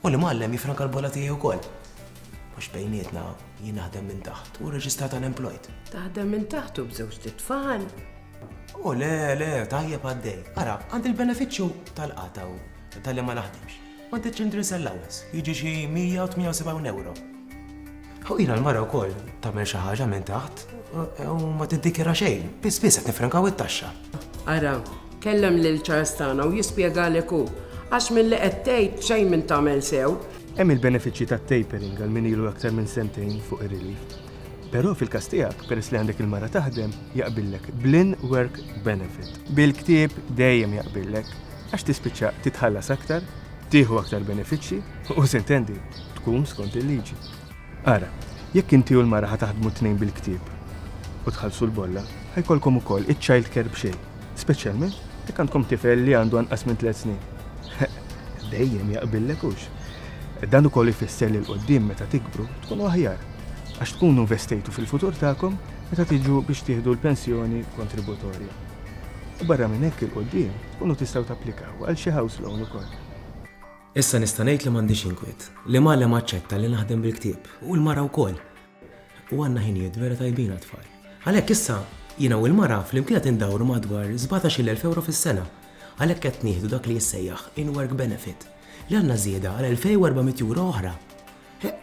U l-imgħallem jiffranka l-bolla tiegħi wkoll. Għax bejnietna jien naħdem minn taħt u rreġistrata l-employed. Taħdem minn taħt u bżewġ titfal? U le, le, tajjeb għaddej. Ara, għandi l-benefiċċju tal-qata u tal-li ma naħdimx. Għandi ċindri sell-lawes, jiġi xi 178 euro. Ħuqina l-mara wkoll tagħmel xi ħaġa minn taħt u ma tiddikjara xejn, biss biss qed nifrankaw it-taxxa. Ara, kellem lil Charles tagħna u jispjegalek hu, għax milli qed tgħid xejn minn tagħmel sew. Hemm il-benefiċċji tat-tapering għal min ilu aktar minn sentejn fuq ir-relief. Però fil-każ tiegħek, peress li għandek il-mara taħdem, jaqbillek bl-in-work benefit. Bil-ktieb dejjem jaqbillek, għax tispiċċa titħallas aktar, tieħu aktar benefiċċji u, sintendi, tkun skont il-liġi. Ara, jekk inti u l-mara ħa taħdmu t-tnejn bil-ktieb u tħallsu l-bolla, ħa jkollkom ukoll iċ-child care b'xejn, speċjalment jekk għandkom tifel li għandu anqas minn tliet snin. Dejjem jaqbillek hux? Dan ukoll ifisser li l-qoddim meta tikbru tkunu aħjar għax tkunu investejtu fil-futur tagħkom meta tiġu biex tieħdu l-pensjoni kontributorja. U barra minn hekk il-qoddim tkunu tistgħu tapplikaw għal xi house loan ukoll. Issa nista' ngħid li m'għandix inkwiet. L-imgħallem aċċetta li naħdem bil-ktieb, u l-mara wkoll. U għandna ħinijiet vera tajbin għat-tfal. Għalhekk issa, jiena u l-mara flimkien qed indawru madwar sbatax-il elf ewro fis-sena. Għalhekk qed nieħdu dak li jissejjaħ in-work benefit, li għandna żieda għal elfej u erba' mitt ewro oħra.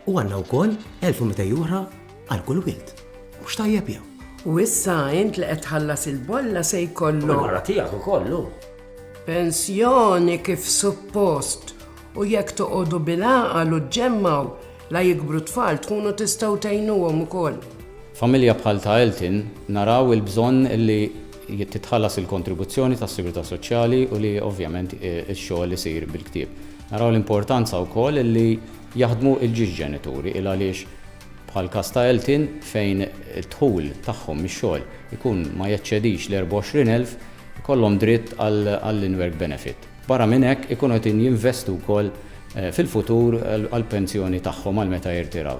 U għandna wkoll elf u mitej oħra għal kull wild. Mhux tajjeb jew? U issa int li qed tħallas il-bolla se jkollok. Mara tiegħek ukollu. Pensjoni kif suppost u jekk toqogħdu bil-għaqal u ġġemmaw la jikbru tfal tkunu tistgħu tgħinuhom ukoll. Familja bħal ta' Elton naraw il-bżonn li titħallas il-kontribuzzjoni tas-Sigurtà Soċjali u li ovvjament ix-xogħol isir bil-ktieb. Naraw l-importanza wkoll li jaħdmu l-ġiex ġenituri il għaliex bħall-każ ta' Eltin fejn id-dħul tagħhom mix-xogħol ikun ma jeċċedix l-24,000 ikollhom dritt għall-in-work benefit. Barra minn hekk ikunu qegħdin jinvestu wkoll fil-futur għall-pensjoni tagħhom għal meta jirtiraw.